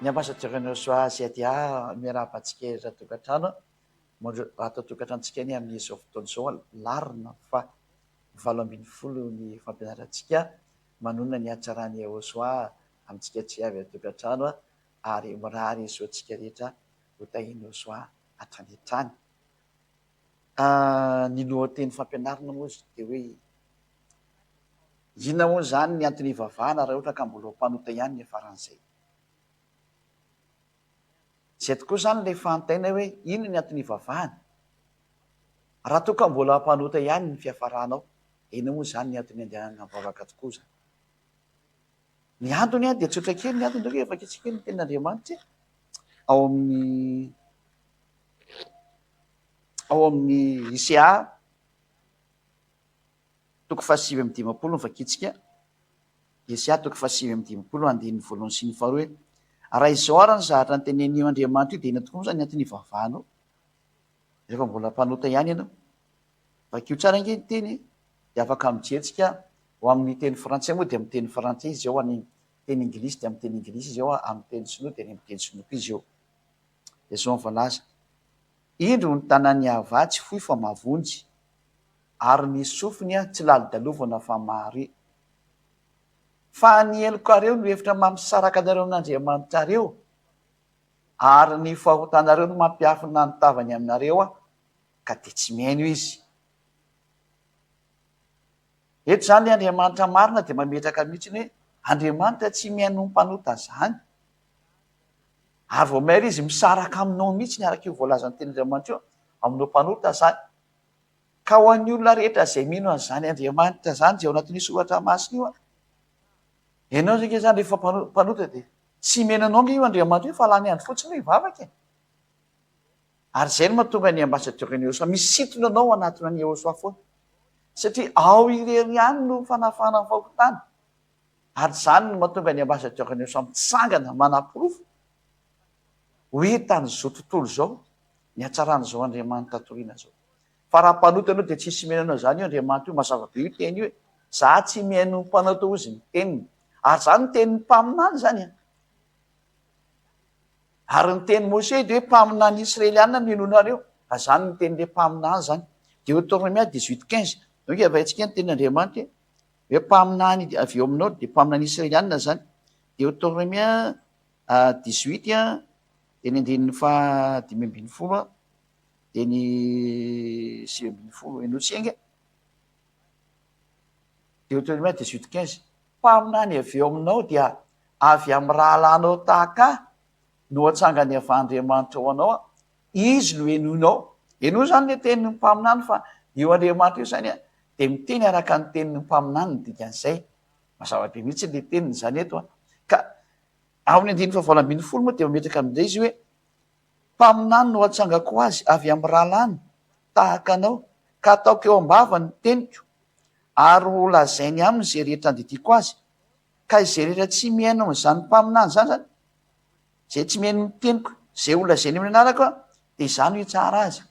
Ny ambassadeur an'i Osua Siadia miarahaba antsika eto an-tokantrano. Ato an-tokantranontsika anie amin'izao fotoana izao alarina fa valo ambin'ny folo ny fampianarantsika. Manonona ny hatsaran'i Osua amintsika tsy avy an-tokantrano ary mirary soa antsika rehetra ho tahian'i Osua hatrany hatrany. Ny lohateny fampianarana moa izy dia hoe inona hono izany ny antony hivavahana raha ohatra ka mbola ho mpanota ihany ny faran'izay. Izay tokoa izany ilay fanontaniana hoe inona ny antony hivavahana? Raha toa ka mbola mpanota ihany ny fiafaranao, dia inona moa izany ny antony handehanana mivavaka tokoa izany? Ny antony dia tsotra kely, ny antony dia hoe efa kitsy kely ny tenin'Andriamanitra ao amin'ny ao amin'ny ICA toko fahasivy amin'ny dimampolo ny vakitsika ICA toko fahasivy amin'ny dimampolo andininy voalohany sy ny faharoa hoe raha izao ary ny zavatra notenenin'io Andriamanitra io dia inona tokoa moa izany ny antony hivavahanao? Rehefa mbola mpanota ihany ianao, vakio tsara ange ny teny dia afaka mijery tsika ho amin'ny teny frantsay moa dia amin'ny teny frantsay izy eo, any teny ingilisy dia amin'ny teny ingilisy izy eo, amin'ny teny sinoa dia any amin'ny teny sinoa koa izy eo. Dia izao ny voalaza, Indro ny tanan'i Yahavah tsy fohy fa mavonjy, ary ny sofiny tsy lalodalovana fa mahare. Fa ny helokareo no efitra mampisaraka anareo amin'Andriamanitrareo. Ary ny fahotanareo no mampiafina ny tavany aminareo, ka dia tsy mihaino izy. Eto izany ilay Andriamanitra marina dia mametraka mihitsy hoe Andriamanitra tsy mihaino ny mpanota izany. Ary vao maire izy misaraka aminao mihitsy araka io voalazan'ny tenin'Andriamanitra io aminao mpanota izany. Ka ho an'ny olona rehetra izay mino an'izany Andriamanitra izany izay ao anatin'io soratra masina io, Ianao izay nge zany rehefa mpanota dia tsy himena anao ange io Andriamatoa io fa lany andro fotsiny hoe hivavaka e! Ary izay no mahatonga ny ambassadeur an'i Eosoa misintona anao hanatona an'i Eosoa foana. Satria ao irery ihany no fanafahana ny fahontana. Ary izany no mahatonga ny ambassadeur an'i Eosoa mitsangana manaporofo hoe tamin'izao tontolo izao ny hatsaran'izao Andriamanitra torina izao. Fa raha mpanota ianao dia tsy hisy miheno anao izany io Andriamanitra io, mazava be io teny io e! Za tsy mihaino mpanota hozy ny teniny. Ary zany ny tenin'ny mpaminany zany an! Ary ny tenin'i Mosè dia hoe mpaminany Israeliana no henoina ary io, ary zany ny tenin'ilay mpaminany zany. Deotornomia dix huit quinze. Donc havaintsika ny tenin'Andriamanitra e! Hoe mpaminany avy eo aminao dia mpaminany Israeliana zany. Deotornomia dix huit dia ny andininy faha dimy ambin'ny folo an! dia ny sivy ambin'ny folo Eno tsy enga Deuteronome dix huit quinze mpaminany avy eo aminao dia avy amin'ny rahalahinao tahaka ahy no atsangany avy Andriamanitra ho anao aho izy no henoinao henoy izany le tenin'ny mpaminany fa io Andriamanitra io izany a dia miteny araka ny tenin'ny mpaminany ny dikan'izay mazava be mihitsy le teniny izany eto a ka amin'ny andininy fahavalo ambin'ny folo moa dia mametraka amin'izay izy hoe Mpaminany no atsangako azy avy amin'ny rahalahiny tahaka anao, ka ataoko eo am-bavany ny teniko, ary ho lazainy aminy izay rehetra andidiako azy. Ka izay rehetra tsy mihaino amin'izany mpaminany izany, izany izay tsy mihaino ny teniko izay ho lazainy amin'ny anarako, dia izaho no hitsara azy.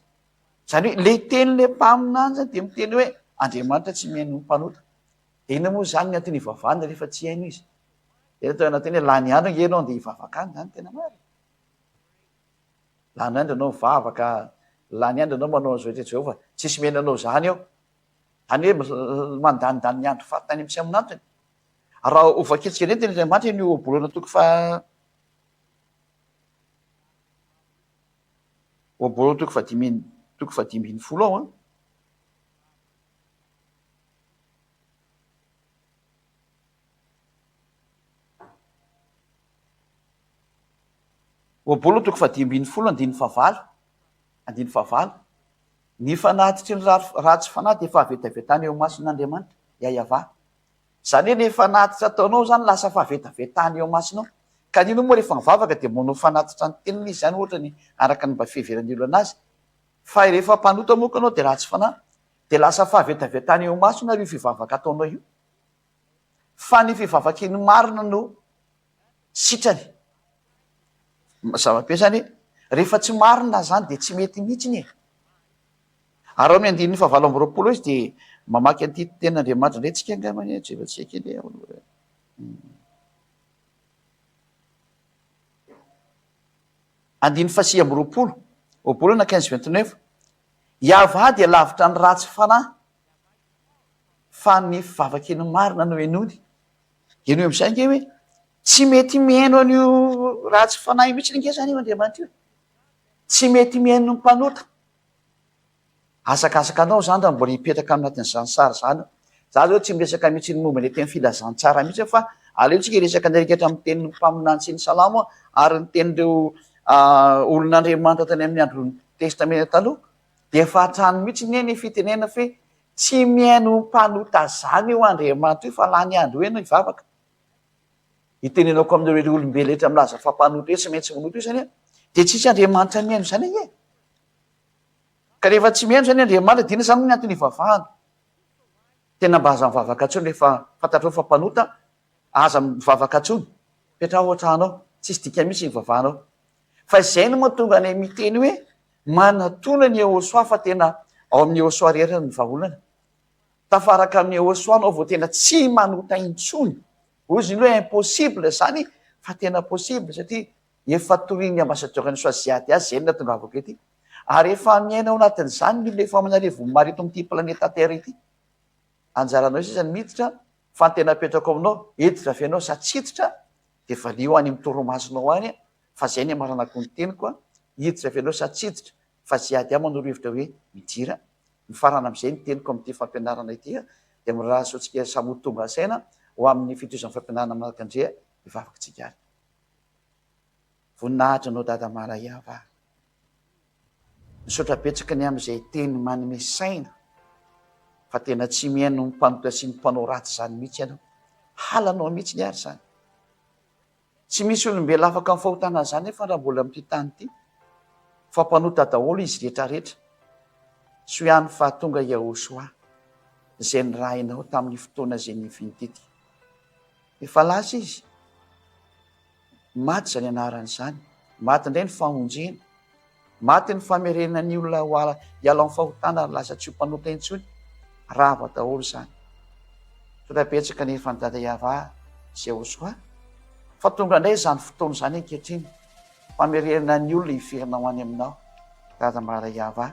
Izany hoe ilay tenin'ilay mpaminany izany dia miteny hoe, Andriamanitra tsy mihaino ny mpanota. Dia inona moa izany ny anton'ivavahana rehefa tsy haino izy? Dia eto ao anatin'ny hoe lany andro ange ianao dia hivavaka any, izany no tena marina. Lany andro ianao mivavaka, lany andro ianao manao an'izao eto Jehovah, tsisy mihaino anao izany eo. Izany hoe mandanindany ny andro faritany amin'ny tsy amin'antony. Raha ho vakintsika indray ny tenin'Andriamanitra eny Ohabolana toko faha Ohabolana toko fahadimy toko fahadimy ambin'ny folo ao an. Ohabolana toko faha dimy ambin'ny folo andininy fahavalo, andininy fahavalo, Ny fanatitry ny ratsy fanahy dia fahavetavetana eo imason'Andriamanitra, Yayavah. Izany hoe ilay fanatitra ataonao izany lasa fahavetavetana eo imasonao. Ka ny inona moa rehefa mivavaka dia manao fanatitra ny teniny izy izany ohatra ny araka ny mba fiheveran'ny olona azy. Fa rehefa mpanota moa ka ianao dia ratsy fanahy dia lasa fahavetavetana eo imasony ary io fivavaka ataonao io. fa ny vehivavake ny marina no sitrany mazava be zany rehefa tsy marina zany dia tsy mety mihitsiny e ary ao amin'ny andininy fahavalo amby roapolo izy dia mamaky an'ity tena andriamanitra indray tsika angamba anie jefa tsy haiko anie andininy fasi amby roapolo roapolo na quinze vingt neuf iavah dia lavitra ny ratsy fanahy fa ny vavakely marina no henoiny. Henoy amin'izay ange hoe tsy mety mihaino an'io ratsy fanahy io mihitsy ange izany io Andriamanitra io. Tsy mety mihaino ny mpanota. Hazakazaka anao izany raha mbola hipetraka ao anatin'izany sary izany eo. Za izao tsy miresaka mihitsy ny momba ilay teny filazantsara mihitsy aho fa aleontsika hiresaka an'ilay rehetra amin'ny tenin'ny mpaminany sy ny salamo ary ny tenin'ireo olon'Andriamanitra tany amin'ny Andron'ny Testamenta Taloha. Dia fahantrany mihitsy anie ny fitenenana fa hoe tsy mihaino mpanota zany io Andriamanitra io fa lany andro eny hivavaka. Itenenako amin'ireo olombelona rehetra milaza fa mpanota io tsy maintsy manota io zany hoe dia tsy misy Andriamanitra mihaino izany anie e! Ka rehefa tsy mihaino zany Andriamanitra dia inona zany ny antony hivavahana? Tena mba aza mivavaka intsony rehefa fantatrao fa mpanota, aza mivavaka intsony, petraho ao an-trano ao, tsisy dikany mihitsy ny hivavahanao. Fa izay no mahatonga anay miteny hoe manatona ny Yehosua fa tena ao amin'i Yehosua rery ny vahaolana. Tafaraka amin'i Yehosua anao vao tena tsy manota intsony. Hoy izy hoe impossible izany fa tena possible satria efa torian'ny ambassadeur any Yehosua Ziad azy izay no natongavako ety. Ary efa miaina ao anatin'izany ny olona efa ao amin'arivony maro eto amin'ity planeta terre ity. Anjaranao sisa ny miditra fa ny tena apetrako aminao hiditra avy ianao sa tsy hiditra? Dia valio any amin'ny toromasonao any fa izay ny hamaranako ny teniko a! Hiditra avy aleo sa tsy hiditra fa izay ady aminy ro hevitra hoe midira? Mifarana amin'izay ny teniko amin'ity fampianarana ity a! Dia mirahalahy sy tsikery samy ho tonga saina ho amin'ny fitohizan'ny fampianarana manaraka ndry ny vavaka tsikaritra. Voninahitra anao Dada Marayava a! Misaotra betsaka ny amin'izay teny manome saina fa tena tsy mihaino ny mpanotra sy ny mpanao ratsy izany mihitsy ianao. Halanao mihitsy ny ary izany. Tsy misy olombelona afaka amin'ny fahotana izany nefa raha mbola amin'ity tany ity fa mpanota daholo izy rehetrarehetra. Soa ihany fa tonga Yahoshuah izay nirahinao tamin'ny fotoana izay nivintitika. Efa lasa izy. Maty izany anarany izany, maty indray ny famonjena, maty ny famerenana ny olona ho ala hiala amin'ny fahotana ary lasa tsy ho mpanota intsony, rava daholo izany. Tonga betsaka anefa an'i Dada Yavah sy Yehosua, fa tonga indray izany fotoana izany ankehitriny, famerenana ny olona hiverina ho any aminao, Dada Maria Yavah.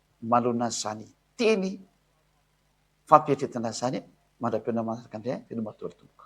manoloana an'izany teny fampieritreretana izany mandra-peo na manaraka indray an, veloma daholo tompoko.